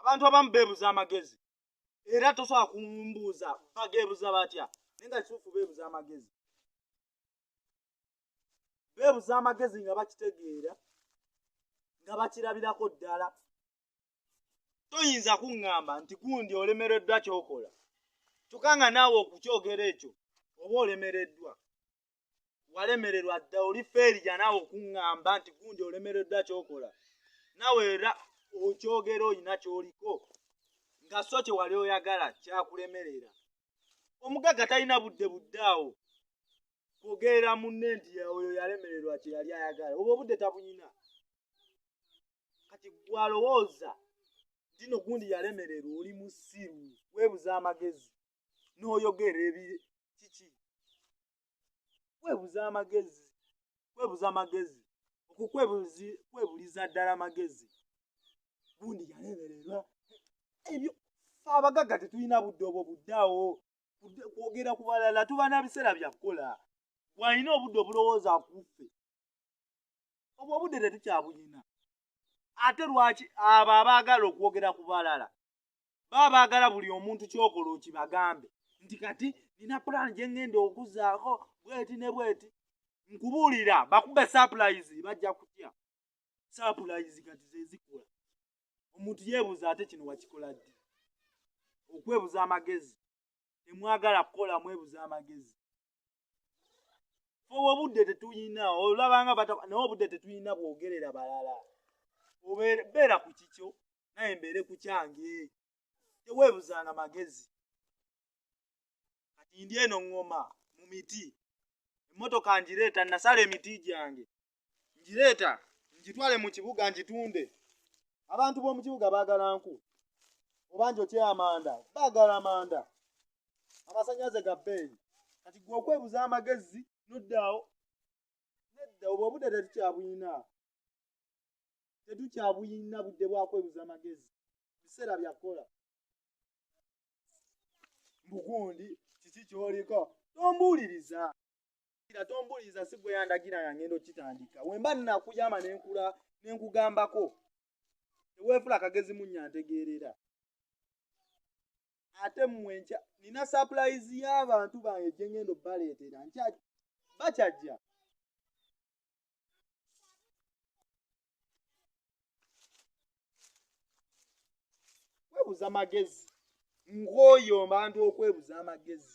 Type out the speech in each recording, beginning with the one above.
abantu abamu beebuza amagezi era tosobola kumbuuza bageebuza batya naye nga kituufu beebuza amagezi beebuza amagezi nga bakitegeera nga bakirabirako ddala toyinza kuŋŋamba nti gundi olemereddwa kyokola kyokka nga naawe okukyogera ekyo oba olemereddwa walemererwa dda oli feerija naawe okuŋŋamba nti gundi olemereddwa kyokola naawe era okyogera olina kyoliko nga so kye wali oyagala kyakulemerera omugagga talina budde budde awo kwogerera munne nti oyo yalemererwa kye yali ayagala oba obudde tabuyina kati gwalowooza tino gundi yalemererwa oli musiru weebuza amagezi n'oyogera ebi kiki kwebuza amagezi kwebuza amagezi okukwebuzi kwebuliza ddala amagezi gundi yalebererwa ebyo fe abagagga tetulina budde obwo buddeawo kwogera ku balala tuba na biseera bya kukola walina obudde obulowooza kuffe obwo obudde tetukyabulina ate lwaki abo abaagala okwogera ku balala baba baagala buli omuntu kyokola okibagambe nti kati nina pulaani gye ŋŋenda okuzaako bweti ne bweti nkubuulira bakube sapulayizi bajja kutya sapulayizi kati zezikula omuntu yeebuuza ate kino wakikola ddi okwebuza amagezi temwagala kukola mwebuza amagezi oba obudde tetuyina olabanga naye obudde tetuyina bwogerera balala obeera ku kikyo naye mbeere ku kyange teweebuzanga magezi kati ndi eno ŋŋoma mu miti emmotoka ngireeta nasala emiti gyange ngireeta ngitwale mu kibuga ngitunde abantu b'omu kibuga baagala nku oba njokye amanda baagala amanda amasanyaze ga bbeeyi kati gwe okwebuza amagezi noddaawo nedda obwo obudde tetukyabuyina tetukyabuyina budde bwakwebuza amagezi biseera byakukola mbugundi kiki kyoliko tombuuliriza Kira tombuliza si gwe yandagira nga ngendo kitandika. Wemba nina kuyama ne nkula ne nkugambako. Tewefula kagezi munya ntegeerera. Ate mwe nkya nina surprise y'abantu bange gye ngendo baleetera nkya bakyajja. Kwebuza magezi. Ng'oyo mbantu okwebuza amagezi.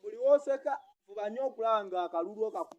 buli woseka fuba nnyo okulaba nga akalulu okaku